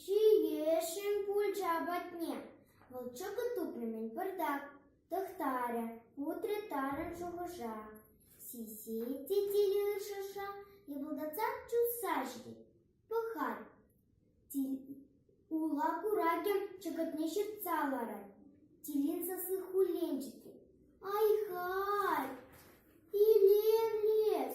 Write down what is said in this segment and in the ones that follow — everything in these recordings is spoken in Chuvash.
Ҫиесшӗн пулчӗ апатне. Вӑл чӑкӑт тупрӑмӗн пӑртак тӑхтарӗ, утрӗ тарӑн шухӑша. Сиси те тилӗ ыршӑша йӑпӑлтатса чупса ҫитет. Пӑхать, ула куракӗ чӑкӑтне ҫыртса ларать. Тилин сасси хуллен ҫитет. Ай-хай, илем-лес!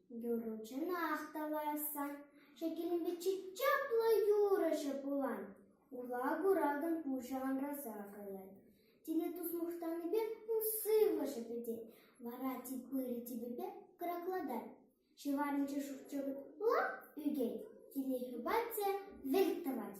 Юрӑ-чуна ахтаварасса шекеленпе чи чаплӑ юрӑҫӑ пулан. Ула куракан пушӑ анраса каять. Тилӗ тус мухтанипе ун сывлӑшӗ пӗтет, вара тип пырӗ типӗпе кӑраклатать. Ҫӑварӗнче шурчӑк лап ӳкет, тиле хӗпать те вӗлт тӑвать.